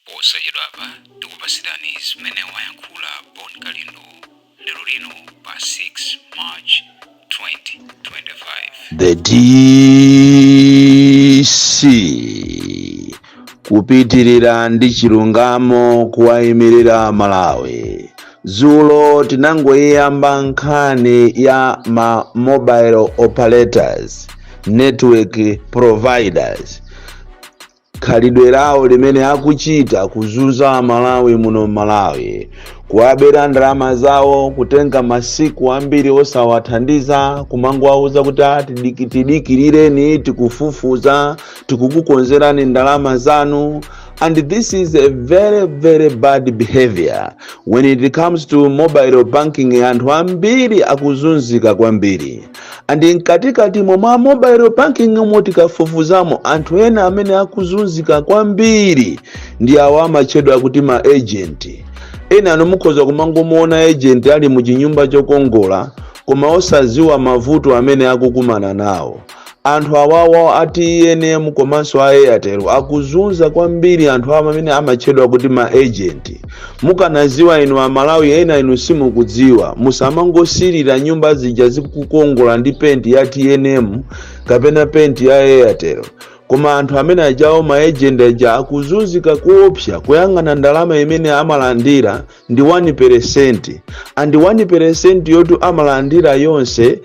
Posachedwapa tikupatsirani zimene wayankhula Bon Kalindo lero lino pa 6 March 2025. The DC kupitirira ndi chilungamo kuwayimirira aMalawi. Dzulo tinangoyiyamba nkhani ya ma mobile operators network providers khalidwe lawo limene akuchita kuzunza amalawi muno mmalawi kuwabera ndalama zawo kutenga masiku ambiri osawathandiza kumangowauza kuti "Ah, tidiki- tidikilireni tikufufuza tikukukonzerani ndalama zanu and this is a very very bad behavior when it comes to mobile banking anthu ambiri akuzunzika kwambiri And mkatikatimo mwa mobile banking umo tikafufuzamo anthu ena amene akuzunzika kwambiri ndi awo amatchedwa kuti ma agent enanu mukhoza kumangomuona agent ali mu chinyumba chokongola koma osadziwa mavuto amene akukumana nawo anthu awawa a tnm komanso a airtel akuzunza kwambiri anthu awa amene amatchedwa kuti ma agent Mukanaziwa inu amalawi enanu simukudziwa musamangosilira nyumba zija zikukongola ndi penti ya tnm kapena penti ya airtel koma anthu amene ajawo ma agent aja akuzunzika kuopsa kuyang'ana ndalama imene amalandira ndi 1 peresenti and 1 peresenti yoti amalandira yonse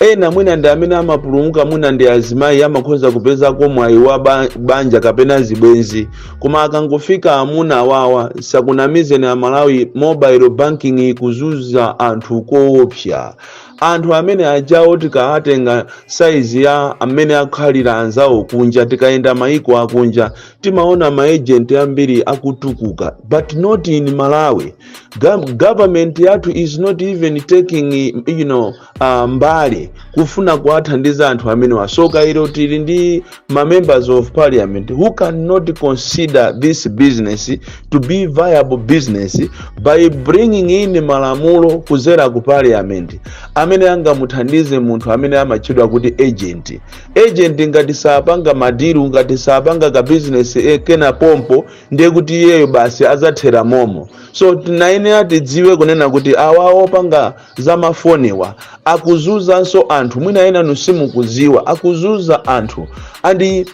Ena mwina ndi amene amapulumuka mwina ndi azimayi amakhonza kupezako mwayi wa ba- banja kapena zibwenzi koma akangofika amuna awawa asakunamizeni amalawi mobile banking ikuzunza anthu koopsa anthu amene ajawo tikaatenga saizi ya mmene akhalira anzawo kunja tikayenda maiko akunja timaona maejenti ambiri akutukuka but not in malawi Gov- government yathu is not even taking you know a mbali kufuna kuwathandiza anthu amenewa tsoka ilo tili ndi ma members of parliament who cannot consider this business to be viable business by bringing in malamulo kuzera ku parliament amene angamuthandize munthu amene amatchedwa kuti agent agent ngati sapanga madilu ngati sapanga ka business eh, kena pompo ndiye kuti iyeyo basi azathera momo so tinayenera tidziwe kunena kuti awa opanga za mafoniwa akuzunzanso anthu mwina enanu simukuziwa akuzunza anthu and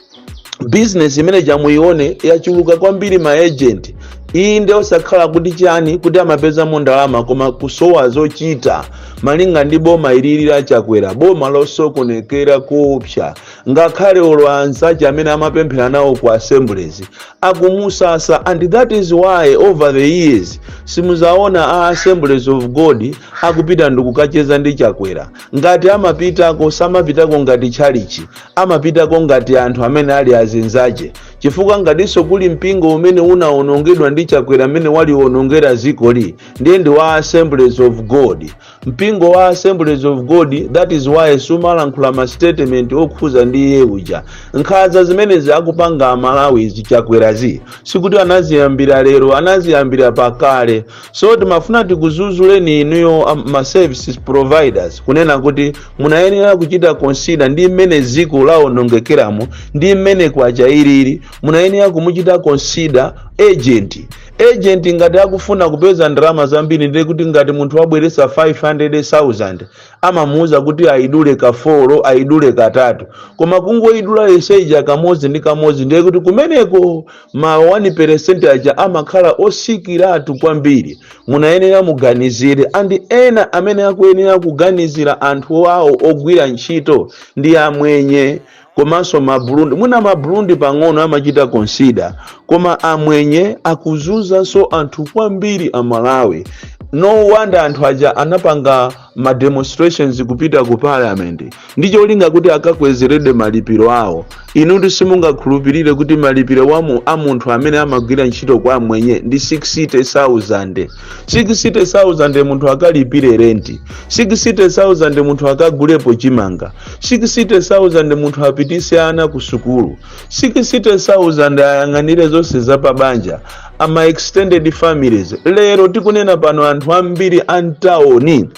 bizinesi imene ija muione yachuluka kwambiri maejenti iyi ndi osakhala kuti chani kuti amapezamo ndalama koma kusowa zochita malinga ndi boma ilili la Chakwera boma losokonekera kuopsa ngakhale olo anzache amene amapemphera nawo ku assemblies akumusasa and that is why over the years simuzaona a assemblies of god akupita ndikukacheza ndi chakwera ngati amapitako samapitako ngati tchalichi amapitako ngati anthu amene ali azinzache chifukwa ngatinso kuli mpingo umene unaonongedwa ndi chakwera mmene waliwonongera zikoli ndiye ndi wa assemblies of god mpingo wa assemblies of god that is why samalankhula ma statement okhuza ndi iye uja nkhaza zimenezi akupanga amalawizi chakwerazi sikuti anaziyambira lero anaziyambira pakale so timafuna tikuzuzuleni inuyo am- ma services providers kunena kuti munayenera kuchita consider ndi mmene dziko lawonongekeramo ndi mmene kwacha ilili munayenera kumuchita consider agent ejenti ngati akufuna kupeza ndalama zambiri ndiye kuti ngati munthu wabweresa 500000 amamuuza kuti ayidule kafolo ayidule katatu koma kungoyidula yonse ija kamodzi ndi kamodzi ndiye kuti kumeneko ma 1 percent aja amakhala osikiratu kwambiri munayenera muganizire andi ena amene akuyenera kuganizira anthu awo ogwira ntchito ndi amwenye komanso ma Burundi mwina ma Burundi pang'ono amachita consider koma amwenye akuzunzanso anthu kwambiri a Malawi no wonder anthu aja anapanga ma demonstrations kupita ku parliament ndi cholinga kuti akakwezeredwe malipiro awo inutu simungakhulupirire kuti malipiro wa mu- a munthu amene amagwira ntchito kwa amwenye ndi 60000 60000 munthu akalipire renti 60000 munthu akagulepo chimanga 60000 munthu apitise ana ku sukulu 60000 ayang'anire zonse za pabanja ama extended families lero tikunena pano anthu ambiri a mtawoni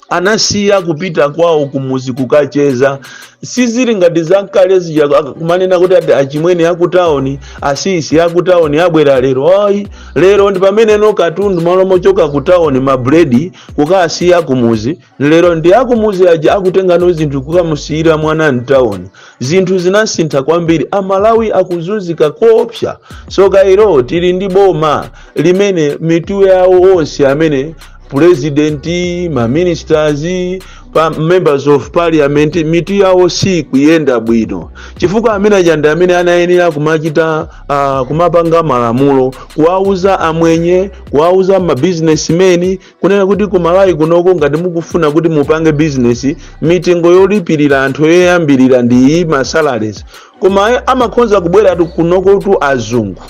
anasiya kupita kwawo kumuzi kukacheza sizili ngati zakale zija ak- kumanena kuti ati achimwene akutawoni asisi akutawoni abwera lero ayi lero ndi pameneno katundu malo mochoka kutawoni mabuledi kukasiya kumuzi lero ndi akumuzi aja akutengano zinthu kukamusiyira mwana mtawoni zinthu zinasintha kwambiri amalawi akuzunzika koopsa soka ilo tili ndi boma limene mitu yawo onse amene purezidenti maministers ma members of parliament mitu yawo sikuyenda bwino chifukwa amene aja ndi amene anayenera kumachita uh, kumapanga malamulo kuwauza amwenye kuwauza mabusinessmen kunena kuti ku malawi kunoko ngati mukufuna kuti mupange bizinesi mitengo yolipirira anthu yoyambirira ndi iyi masalaries koma amakhoza kubwera kunokotu azungu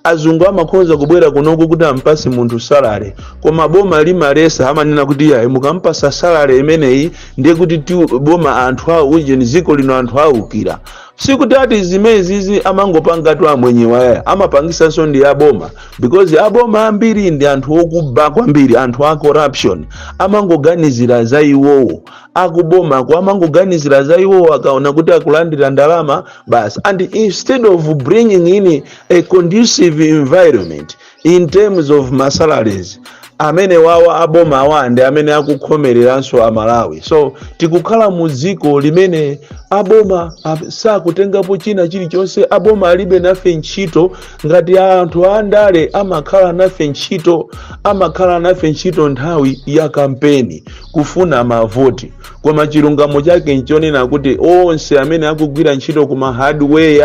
azungu amakhoza kubwera kunoko kuti ampase munthu salary koma boma limalesa amanena kuti yayi mukampasa salary imeneyi ndiye kuti ti- boma anthu awo ujeni dziko lino anthu awukira sikuti ati zimenezi amangopangatu amwenyewa ayi amapangisanso ndi aboma because aboma ambiri ndi anthu okuba kwambiri anthu a corruption amangoganizira za iwowo akubomako amangoganizira za iwowo akaona kuti akulandira ndalama basi and instead of bringing in a conducive environment in terms of masalaries amene wawa aboma awa ndi amene akukhomereranso amalawi so tikukhala mu dziko limene aboma ab- sakutengapo china chilichonse aboma alibe nafe ntchito ngati anthu andale amakhala nafe ntchito amakhala nafe ntchito nthawi ya kampeni kufuna mavoti koma chilungamo chake nchonena kuti onse amene akugwira ntchito kuma hardware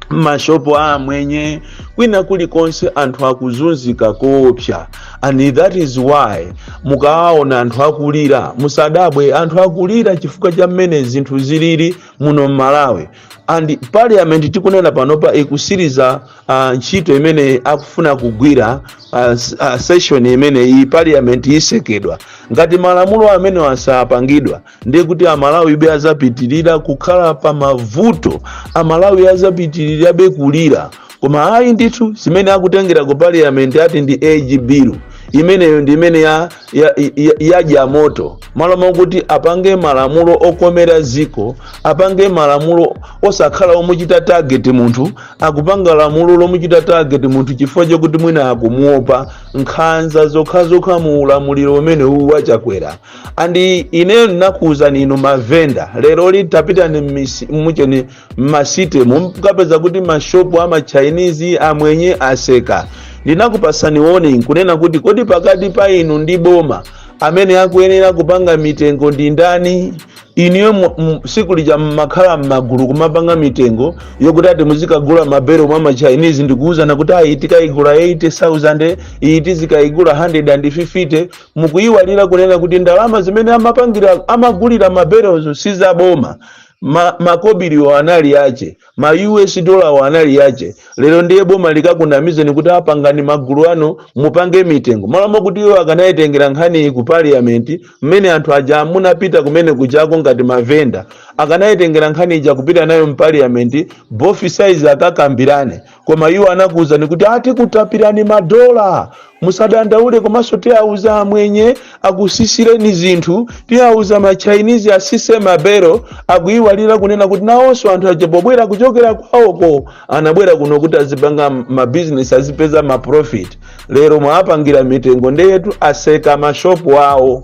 m'mashopu a amwenye kwina kulikonse anthu akuzunzika koopsa and that is why mukawaona anthu akulira musadabwe anthu akulira chifukwa cha mmene zinthu zilili muno m'malawi and parliament tikunena panopa ikusiriza uh, ntchito imene akufuna kugwira uh, s- uh, session imene iyi parliament isekedwa ngati malamulo amenewa sapangidwa ndiye kuti amalawibe azapitirira kukhala pa mavuto amalawi azapitirirabe kulira koma ayi ndithu zimene akutengera ku parliament ati ndi age bill imeneyo ndi imene ya, ya, ya, yadya moto malo mokuti apange malamulo okomera ziko apange malamulo osakhala omuchita target munthu akupanga lamulo lomuchita target munthu chifukwa chokuti mwina akumuopa nkhanza zokhazokha mu ulamuliro umene uwu wa Chakwera and ineyo ndinakuwuzani inu mavenda lero ili tapitani mmisi- mucheni mmasite mukapeze kuti mashopu a machinese amwenye aseka ndinakupasani warning kunena kuti kodi pakati pa inu ndi boma amene akuyenera kupanga mitengo ndi ndani inuyo mu- mu- siku lija mmakhala mmagulu kumapanga mitengo yokuti ati muzikagula mabelo mwa ma Chinese nkuwuzana kuti ayi tikayigula 80000 iyi tizikayigula 150 mukuyiwalira kunena kuti ndalama zimene amapangira amagulira mabelozo si za boma ma, makobiliwo anali ache ma us dolawo anali ache lero ndiye boma likakunamizeni kuti pangani magulu anu mupange mitengo malo mokuti iwo akanayitengera nkhaniyi ku parliament mmene anthu aja munapita kumene kujako ngati mavenda akanayitengera nkhani ija kupita nayo mu parliament both sides akakambirane koma iwo anakuwuzani kuti ati kutapirani madola musadandaule komanso tiawuza amwenye akusisireni zinthu tiawuza machinese asise mabero akuyiwalira kunena kuti nawonso anthu aja pobwera kuchokera kwawoko anabwera kuno kuti azipanga mabizinesi azipeza maprofit lero mwapangira mitengo ndeyetu aseka mashopu awo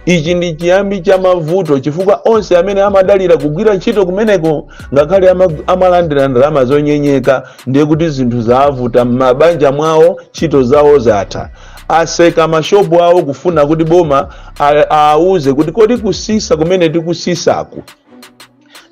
ichi ndi chiyambi cha mavuto chifukwa onse amene amadalira kugwira ntchito kumeneko ngakhale ama- amalandira ndalama zonyenyeka ndiye kuti zinthu zavuta m'mabanja mwawo ntchito zawo zatha aseka mashopu awo kufuna kuti boma a- awauze kuti kodi kusisa kumene tikusisaku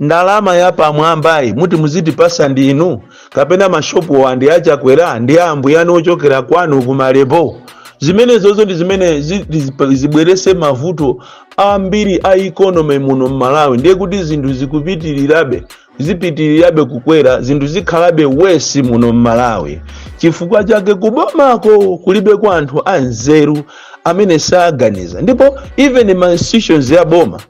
ndalama ya pamwambayi muti muzitipasa ndi inu kapena mashopuwa ndi a chakwera ndi ambuyanu ochokera kwanu kumalembo zimenezozo ndi zimene zi- zi- zibwerese mavuto ambiri a economy muno mmalawi ndiye kuti zinthu zikupitirirabe zipitirirabe kukwera zinthu zikhalabe worse muno mmalawi chifukwa chake kubomako kulibeko anthu anzeru amene saganiza ndipo even ma institutions ya boma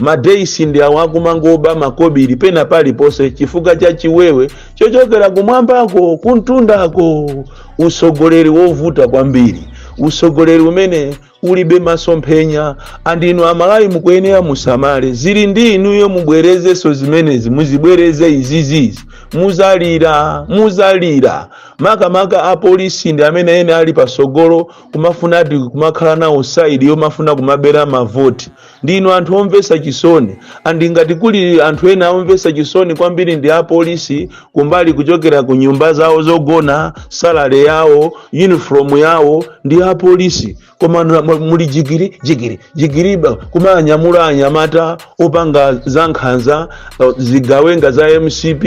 ma dc ndi awo akumangoba makobiri pena paliponse chifukwa cha chiwewe chochokera kumwambako kumtundako usogoleri wovuta kwambiri usogoleri umene ulibe masomphenya and inu amalawi mukuyenera musamale zili ndi inuyo mubwerezenso zimenezi muzibwereze izizizi muzalira muzalira makamaka apolisi ndi amene ene ali pasogolo kumafuna ati kumakhala nawo side yomafuna kumabera mavoti Ndinu anthu omvetsa chisoni and ngati kuli anthu ena omvetsa chisoni kwambiri ndi a police kumbali kuchokera ku nyumba zawo zogona, salary yawo, uniform yawo ndi a police koma na- mu- muli jigiri jigiri jigiri ba- kumanyamula anyamata opanga za nkhanza eh, zigawenga za mcp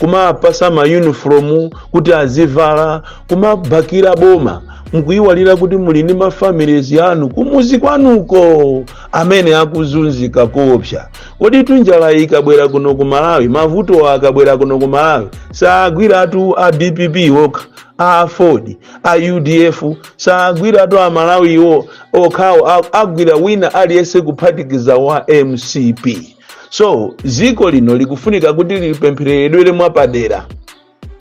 kumapasa mayunifomu kuti azivala kumabakira boma mukuyiwalira kuti muli ndi mafamilies yanu kumuzi kwanuko amene akuzunzika koopsa koditu njala ikabwera kuno ku malawi mavuto akabwera kuno ku malawi saagwiratu a dpp okha a aford a udf saagwiratu a malawiwo okhawo a- agwira wina aliyense kuphatikiza wa mcp so dziko lino likufunika kuti lipemphereredwere mwapadera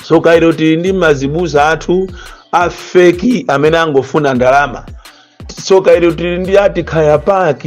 soka ilo tili ndi mazibusa athu a fake amene angofuna ndalama soka ilo tili ndi ati kaya pac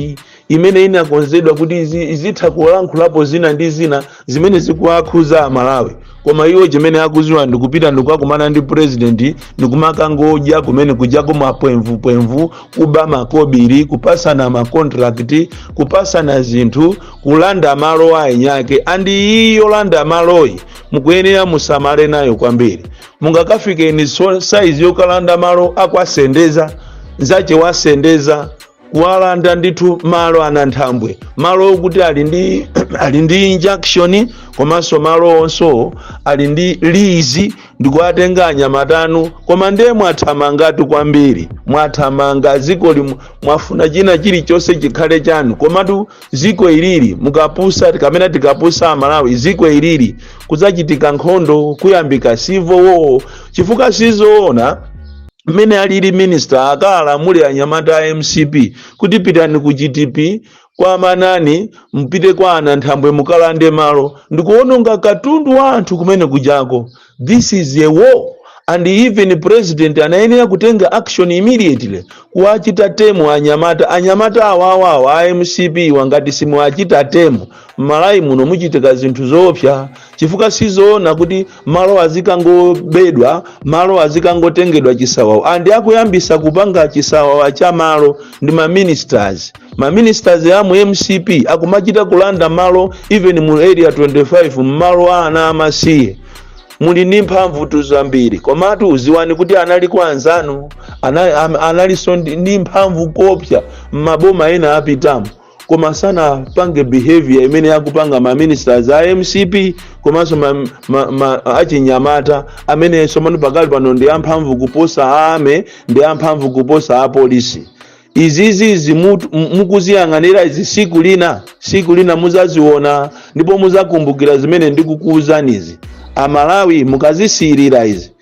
imene inakonzedwa kuti izi- izitha kulankhulapo zina ndi zina zimene zikuwakhuza amalawi koma iwo chimene akuziwa ndikupita ndikukakumana ndi purezidenti ndikumakangodya kumene kujako mapwemvupwemvu kuba makobiri kupasana makontrakiti kupasana zinthu kulanda malo aeniake andi iyi yolanda maloyi mukuyenera musamale nayo kwambiri mungakafikeni so- saizi yokalanda malo akwasendeza nzache wasendeza kuwalanda ndithu malo ananthambwe malo okuti ali ndi ali ndi injunction komanso malo onso ali ndi lease ndikuwatenga anyamata anu koma ndiye mwathamangatu kwambiri mwathamanga ziko mwafuna china chilichonse chikhale chanu komatu ziko ilili mukapusa kamene tikapusa amalawi ziko ilili kuzachitika nkhondo kuyambika civil war chifukwa sizoona mmene alili minister akalamule anyamata a mcp kuti pitani ku gtp kwa amanani mpite kwa ananthambwe mukalande malo ndikuononga katundu wa anthu kumene kujako this is a war and even president anayenera kutenga action immediately kuwachita temu anyamata anyamata awawawa a mcp ngati simuwachita temu mmalawi muno muchitika zinthu zoopsa chifukwa sizoona kuti malo azikangobedwa malo azikangotengedwa chisawawa andi akuyambisa kupanga chisawawa cha malo ndi maministers maministers a mu mcp akumachita kulanda malo even mu area 25 mmalo a ana amasiye muli ndi mphamvutu zambiri komatu ziwani kuti anali kwa anzanu ana- am- analinso ndi ndi mphamvu koopsa m'maboma ena apitamu koma sanapange behavior imene akupanga ma ministers a mcp komanso ma, ma, ma, achinyamata amene tsopano pakali pano ndi amphamvu kuposa a army ndi amphamvu kuposa apolisi izizi izi mutu- mu- mukuziyang'anira izi siku lina siku lina muzaziona ndipo muzakumbukira zimene ndikukuuzanizi amalawi mukazisiirira izi